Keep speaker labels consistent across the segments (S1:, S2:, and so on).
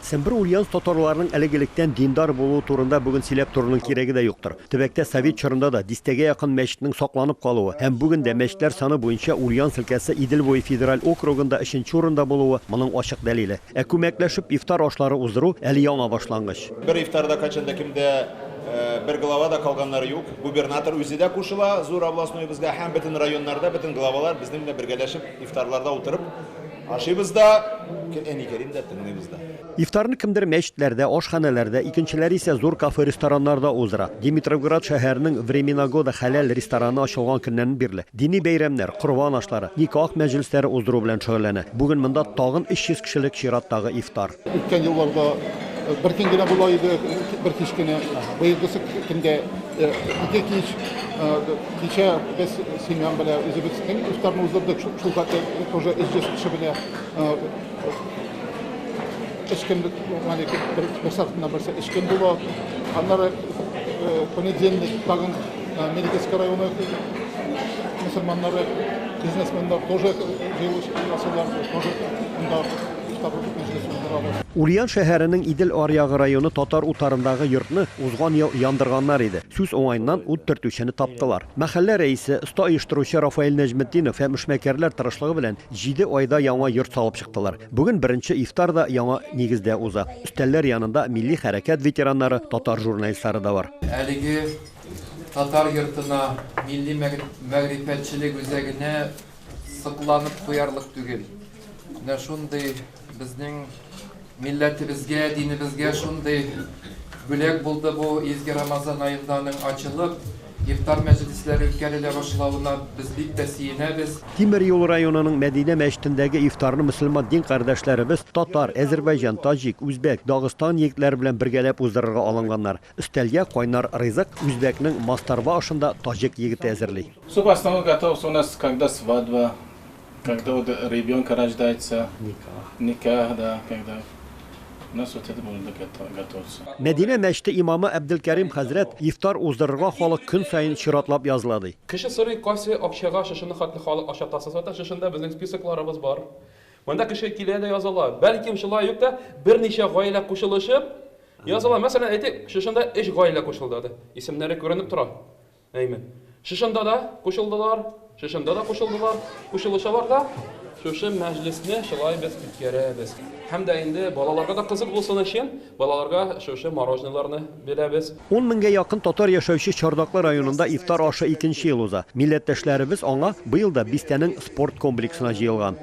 S1: Сембер Ульяновск татарларының элек-электән диндар булуы турында бүген сөйләп торуның кирәге дә юктыр. Төбәктә совет чорында да дистәгә якын мәчетнең сакланып калуы һәм бүген дә мәчетләр саны буенча Ульяновск өлкәсе Идел буе федераль округында өченче урында булуы моның ачык дәлиле. Ә күмәкләшеп ифтар ашлары уздыру, әле яңа башлангыч. Бер ифтарда кайчан
S2: да кем дә, бер глава да калганнары юк. Губернатор үзе дә кушыла зур областноебызга һәм бөтен районнарда бөтен главалар безнең белән бергәләшеп ифтарларда утырып, Ашыйбыз да, әни Кәрим дә тыңлыйбыз да. Ифтарны кемдер
S1: мәчетләрдә, ашханәләрдә, икенчеләре исә зур кафе-рестораннарда уздыра. Димитровград шәһәренең Времена года хәләл рестораны ачылган көннән бирле дини бәйрәмнәр, корбан ашлары, никах мәҗлесләре уздыру белән шөгыльләнә. Бүген монда тагын 300 кешелек чираттагы ифтар. Үткән елларда
S3: бер көн генә була иде, бер кич кенә. Быелгысы көндә ике кич. Кичә без семьям белән үзебезнең ифтарны уздырдык. Шул хәтле тоже 300 кеше белән эчкән бер сартыннан берсе эчкән була. Аннары понедельник тагын Медицинский районы мөселманнары, бизнесменнар тоже җыелыш ясыйлар, тоже анда
S1: Ульян шәһәренең Идел аръягы районы татар утарындагы йортны узган ел яндырганнар иде. Сүз уңаеннан, ут төртүчене таптылар. Мәхәллә рәисе, оста оештыручы Рафаэль Нәҗметдинов һәм эшмәкәрләр тырышлыгы белән җиде айда яңа йорт салып чыктылар. Бүген беренче ифтар да яңа нигездә уза. Өстәлләр янында милли хәрәкәт ветераннары, татар журналистлары да бар. Әлеге
S4: татар йортына милли мәгърифәтчелек үзәгенә сокланып куярлык түгел. Менә шундый безнең милләтебезгә, динебезгә шундый бүләк булды бу изге Рамазан аенда аның ачылып, ифтар мәҗлесләре үткәрелә башлавына без бик тә сөенәбез. Тимер юл районының
S1: Мәдинә мәчетендәге ифтарны мөселман дин кардәшләребез, татар, әзербайҗан, таҗик, үзбәк, Дагыстан егетләре белән бергәләп уздырырга алынганнар. Өстәлгә кайнар ризык үзбәкнең мастарба ашын да таҗик егете әзерли. Суп основной готовится
S5: у нас когда свадьба, когда вот ребёнка рождается, никах, да, когда у нас вот это блюдо готовится. Мәдинә мәчете
S1: имамы Әбделкәрим хәзрәт ифтар уздырырга халык көн саен чиратлап языла, ди. Кеше сорый, кайсы
S6: акчага шушыны хәтле халык акча тасыса да, шушында безнең списокларыбыз бар. Монда кеше килә дә языла. Бәлкем шулай ук та берничә гаилә кушылышып, Языла, мәсәлән, әйтик, шушында өч гаилә кушылдады. Исемнәре күренеп тора. Әйме. Шушында да кушылдылар, шушында да кушылдылар, кушылышалар да, шушы мәҗлесне шулай без үткәрәбез. Һәм дә инде балаларга да кызык булсын өчен, балаларга шушы мороженыларны бирәбез. Ун меңгә якын
S1: татар яшәүче Чардаклы районында ифтар ашы икенче ел уза. Милләттәшләребез аңа быел да бистәнең спорт комплексына җыелган.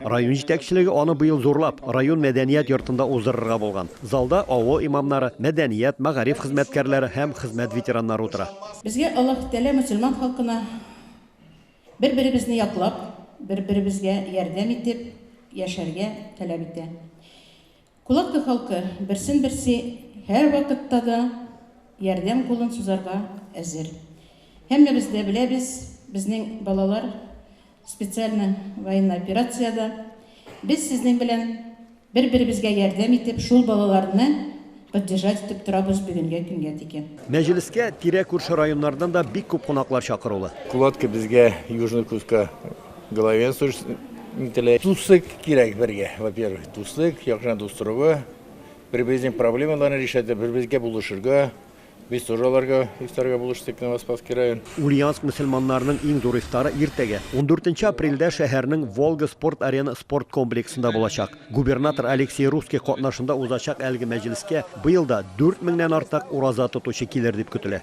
S1: Район җитәкчелеге аны быел зурлап, район мәдәният йортында уздырырга булган. Залда авыл имамнары, мәдәният, мәгариф хезмәткәрләре һәм хезмәт ветераннары утыра. Безгә Аллаһ Тәгалә
S7: мөселман халкына бер-беребезне яклап, бер-беребезгә ярдәм итеп яшәргә таләп итә. Кулатка халкы берсен-берсе һәрвакытта да ярдәм кулын сузарга әзер. Һәммәбез дә беләбез, безнең балалар специальный военный операциядә. Без сезнең белән бер-беребезгә ярдәм итеп, шул балаларны поддержать итеп торабыз бүгенгә көнгә тикен. Мәҗлескә
S1: тирә-күрше районнардан да бик күп кунаклар чакырулы. Кулатка безгә
S8: Южный Кутка Главенствовать ителә. Дуслык кирәк бергә, во-первых, дуслык, якшына дус торуга, бер-беребезнең проблемаларын решать, бер-беребезгә булышырга. Без тоже аларга ифтарга булыштык, Новоспасский район. Ульяновск мөселманнарының
S1: иң зур ифтары иртәгә, ундүртенче апрельдә шәһәрнең Волга спорт-арена спорт комплексында булачак. Губернатор Алексей Русский катнашында узачак әлеге мәҗлескә быел да дүрт меңнән артык ураза тотучы килер дип көтелә.